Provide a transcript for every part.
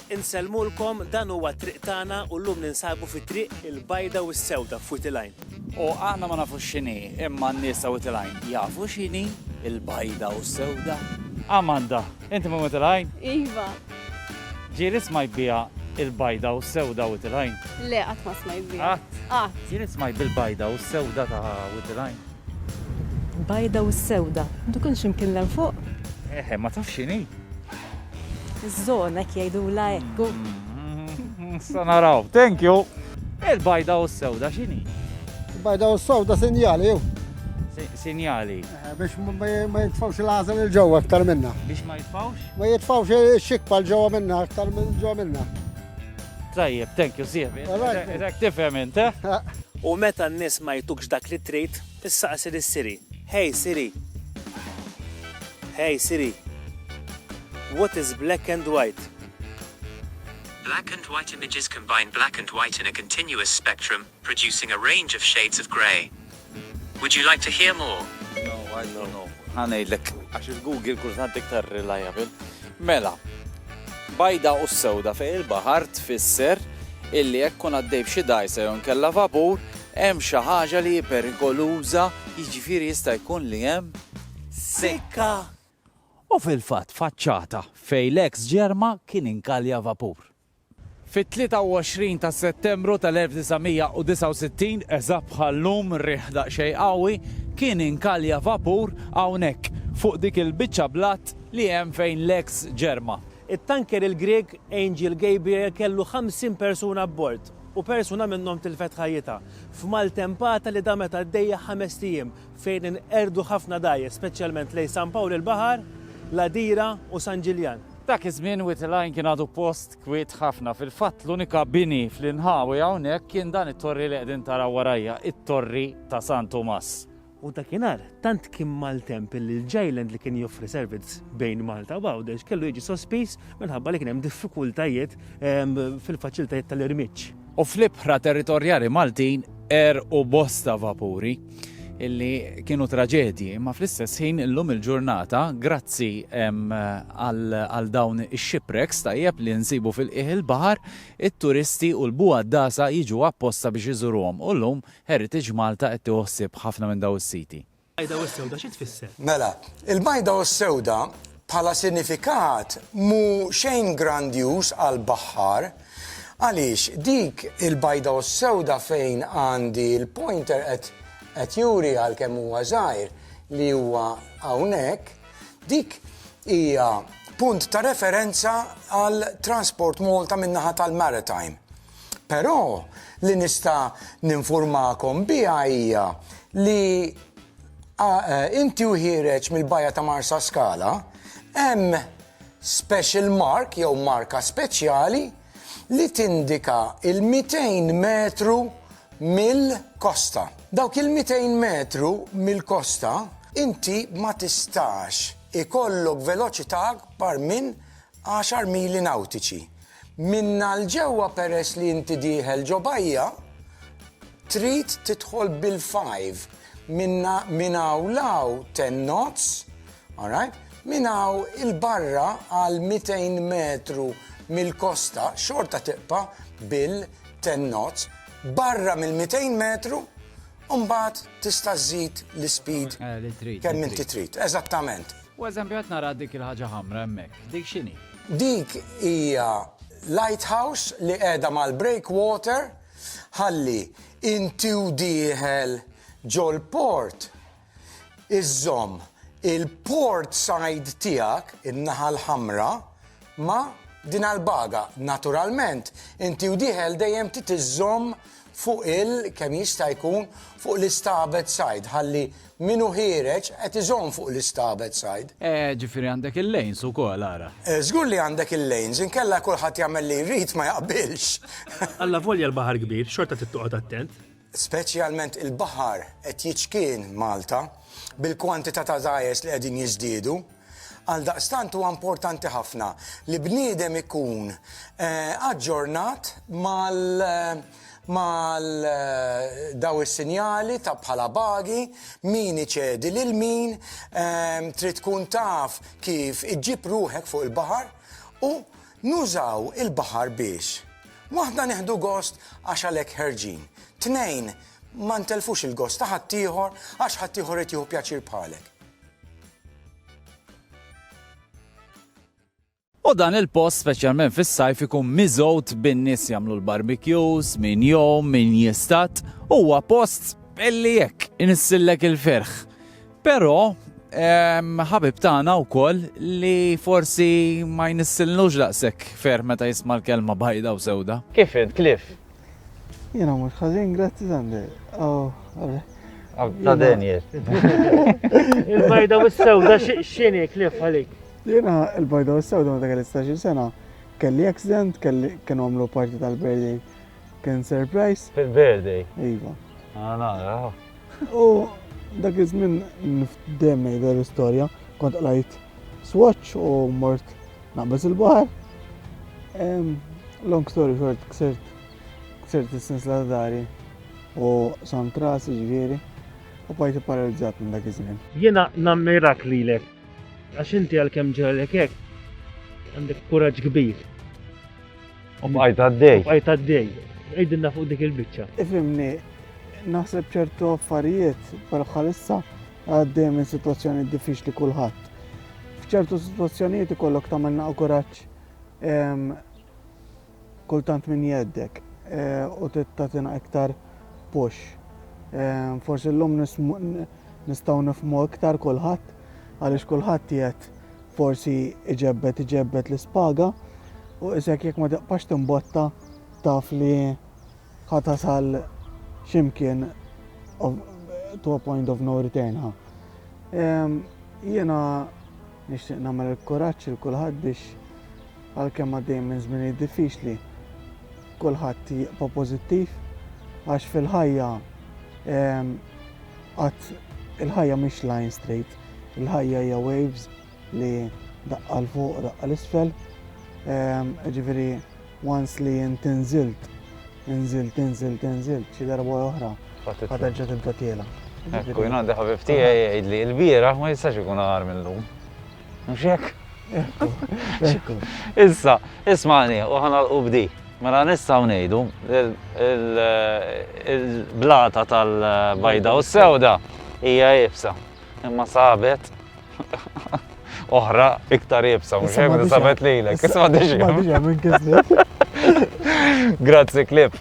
Insellmulkom, dan huwa t-triq tagħna u llum ninsabu fi triq il-bajda u s-sewda f'Wied il-Għajn. U aħna ma nafux x'inhi, imma n-nies ta' Wied il-Għajn jafu x'inhi l-bajda u s-sewda. Amanda, inti minn Wied il-Għajn? Iva. Ġieli smajt biha l-bajda u s-sewda Wied il-Għajn? Le, qatt ma smajt biha. Qatt? Qatt. Ġieli smajt bil-bajda u s-sewda ta' Wied il-Għajn? Bajda u s-sewda? Dik hux imkien 'l hemm fuq? Eħe, ma tafx x'inhi? Iż-żona jgħidulha hekk. Sa naraw. Thank you. Il-bajda u s-sewda x'inhi? Il-bajda u s-sewda sinjali jew? Sinjali. Eh, biex ma jitfawx il-għażel il-ġewwa aktar minna. Biex ma jitfawx? Ma jitfawx ix-xikpa l-ġewwa minna aktar minn ġewwa minna. Tajjeb, thank you, sieħbi. Rek tifhem int, eh? eh. U meta n-nies ma jtukx dak li trid, issaqsi lis-Siri. Hej, Siri, Hey Siri, what is black and white? Black and white images combine black and white in a continuous spectrum, producing a range of shades of grey. Would you like to hear more? No, I don't know. Ħa ngħidlek għax il-Google kultant iktar reliable. Mela, bajda u sewda fejn il-baħar tfisser illi jekk kun għaddej b'xi dajsa jew nkella vapur, hemm xi ħaġa li hi perikoluża, jiġifieri jista' jkun li hemm sikka. U fil-fatt faċċata fejn l-eks ġerma kien inkalja vapur. Fit-23 ta' Settembru tal-1969, eżatt bħal llum, riħ daqsxejn qawwi, kien inkalja vapur hawnhekk, fuq dik il-biċċa blat li hemm fejn l-eks ġerma. It-tanker il-Grieg Angel Gabriel kellu 50 persuna abbord u persuna minnhom tilfet ħajjitha f'maltempata li damet għaddejja ħamest ijiem fejn inqerdu ħafna dgħajjes, speċjalment lejn San Pawl il-Baħar, l-Għadira u San Ġiljan. Dak iż-żmien Wied il-Għajn kien għadu post kwiet ħafna. Fil-fatt l-unika bini fl-inħawi hawnhekk kien dan it-torri li qegħdin taraw warajja, it-Torri ta' San Tumas. U dakinhar tant kien maltemp illi l-J-Land li kien joffri servizz bejn Malta u Għawdex kellu jiġi sospiż minħabba li kien hemm diffikultajiet ehm, fil-faċilitajiet tal-irmiġġ. U fl-ibħra territorjali Maltin għerqu bosta vapuri. illi kienu traġedji, imma fl-istess ħin illum il-ġurnata, grazzi għal dawn ix-shipwrecks tajjeb li nsibu fil-qiegħ il-baħar, it-turisti u l-buha dasa jiġu apposta biex iżuruhom u llum Heritage Malta qed tieħu ħsieb ħafna minn dawn is-siti. Mela, il-bajda u s-sewda Bħala sinifikat mhu xejn grandjuż għall-baħħar għaliex dik il-bajda u s-sewda fejn għandi l-pointer qed qed juri għalkemm huwa żgħir li huwa hawnhekk, dik hija punt ta' referenza għal Transport Malta min-naħa tal-Maritime. Però li nista' ninfurmakom biha hija li inti u ħiereġ mill-bajja ta' Marsaskala hemm special mark jew marka speċjali li tindika l-200 metru mill-kosta. Dawk il-200 metru mill-kosta inti ma tistax ikollok veloċità akbar minn għaxar mili nawtiċi. Minnha 'l ġewwa peress li inti dieħel ġo bajja, trid tidħol bil-five minnha minn hawn 'l hawn ten knots, alright, minn hawn 'il barra għal 200 metru mill-kosta xorta tibqa' bil-ten knots, barra mill-200 metru mbagħad tista' żżid l-ispeed kemm inti trid. Eżattament. U eżempju qed nara dik il-ħaġa ħamra hemmhekk, dik x'inhi? Dik hija lighthouse li qiegħda mal-breakwater ħalli inti u dieħel ġol-port iżżomm il-port side tiegħek, in-naħa l-ħamra, ma' dinha l-baga. Naturalment, inti u dieħel dejjem trid iżżomm fuq il, kemm jista' jkun, fuq l-istabet side, ħalli min hu ħiereġ qed iżomm fuq l-istabet side. Eh, ġifieri għandek il-lanes ukoll, ara. Eh, żgur li għandek il-lanes, inkella kulħadd jagħmel li jrid ma jaqbilx. Allavolja l-baħar kbir, xorta trid toqgħod attent. Speċjalment il-baħar qed jiċkien Malta bil-kwantità ta' dgħajjes li qegħdin jiżdiedu. Għaldaqstant huwa importanti ħafna li bniedem ikun aġġornat mal mal daw is-sinjali ta' bħala bagi, min iċedi lil min, trid tkun taf kif iġġib ruħek fuq il-baħar u nużaw il-baħar biex, waħda nieħdu gost għax għalhekk ħerġin, tnejn ma ntelfux il-gost ta' ħaddieħor għax ħaddieħor irid jieħu pjaċir bħalek. U dan il-post, speċjalment fis-sajf, ikun miżgħud bin-nies jagħmlu l-barbecues, min jom, min jistat, huwa post illi jekk inissillek il-ferħ. Però ħabib tagħna wkoll li forsi ma jnissillux daqshekk ferħ meta jisma' l-kelma bajda u sewda. Kif int, Cliff? Jena mux ħazin, grazzi Sande. Oh, Ta' Daniel. Il-bajda u s-sewda xini klif għalik? Jena il-bajda u s-sewda ma' kelli 16 sena. Kelli accident, kelli kienu għamlu parti tal-birthday. Kien surprise. Fil-birthday? Iva. Ah, U dak iż-żmien dejjem ngħidha l-istorja, kont qlajt swatch u mort naqbeż il-baħar. Long story short, ksirt ksirt is-sens la dari u sam trasi ġifieri u bajt paralizzat minn dak iż-żmien. Jiena nammirak lilek għax inti għalkemm ġralek hekk għandek kuraġġ kbir. U bqajt għaddej. Bqajt għaddej. Għidilna fuq dik il-bicċa. Ifimni, naħseb ċertu affarijiet per bħalissa għaddej minn situazzjoni diffiċli kulħadd. F'ċertu situazzjonijiet ikollok tagħmel naqgħu kuraġġ ehm, kultant minn jeddek eh, u tittatina iktar push. Ehm, forsi l-lum nistgħu nifmu iktar kulħadd għaliex kulħadd jgħid forsi iġebbed iġebbed l-ispaga u isek jekk ma tibqax timbotta taf li ħa tasal ximkien to a point of no return ha. Jiena nixtieq nagħmel il-kuraġġ il kulħadd biex għalkemm għaddej minn żmien diffiċli kulħadd jibqa' pożittiv għax fil-ħajja għat il-ħajja mhix line straight. Il-ħajja hija waves li daqqa 'l fuq daqqa 'l isfel. Jiġifieri once li int inżilt, inżilt, inżilt, inżilt, xi darba oħra ħaterġa' tibda tiela. Ekku, jien għandi ħabib tiegħi jgħidli l-bieraħ ma jistax ikun aħar minn lum. Mhux hekk? Issa, ismani, u ħana u bdi. Mela nistaw nejdu il-blata tal-bajda u s-sewda hija jibsa. Imma sabet oħra iktar jibsa, mux jibsa sabet lilek. Isma diġi. Grazzi klib.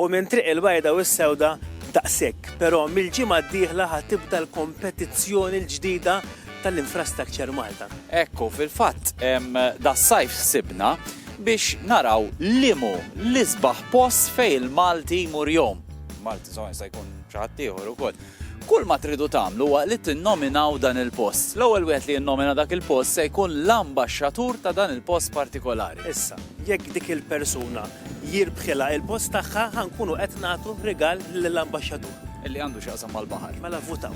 U minn Triq il-Bajda u s-Sewda daqshekk, però mill-ġimgħa d-dieħla ħa tibda l-kompetizzjoni l-ġdida tal-Infrastructure Malta. Ekku, fil-fatt, das-sajf ħsibna biex naraw liemhu l-isbaħ post fejn il-Malti jmur jgħum. Malti, insomma, jista' jkun xi ħaddieħor ukoll. Kull ma tridu tagħmlu huwa li tinnominaw dan il-post. L-ewwel wieħed li jinnomina dak il-post se jkun l-ambaxxatur ta' dan il-post partikolari. Issa, jekk dik il-persuna jirbħilha il-post tagħha, ħa nkunu qed nagħtu rigal lill-ambaxxatur. Li għandu x'jaqsam mal-baħar. Mela vvutaw.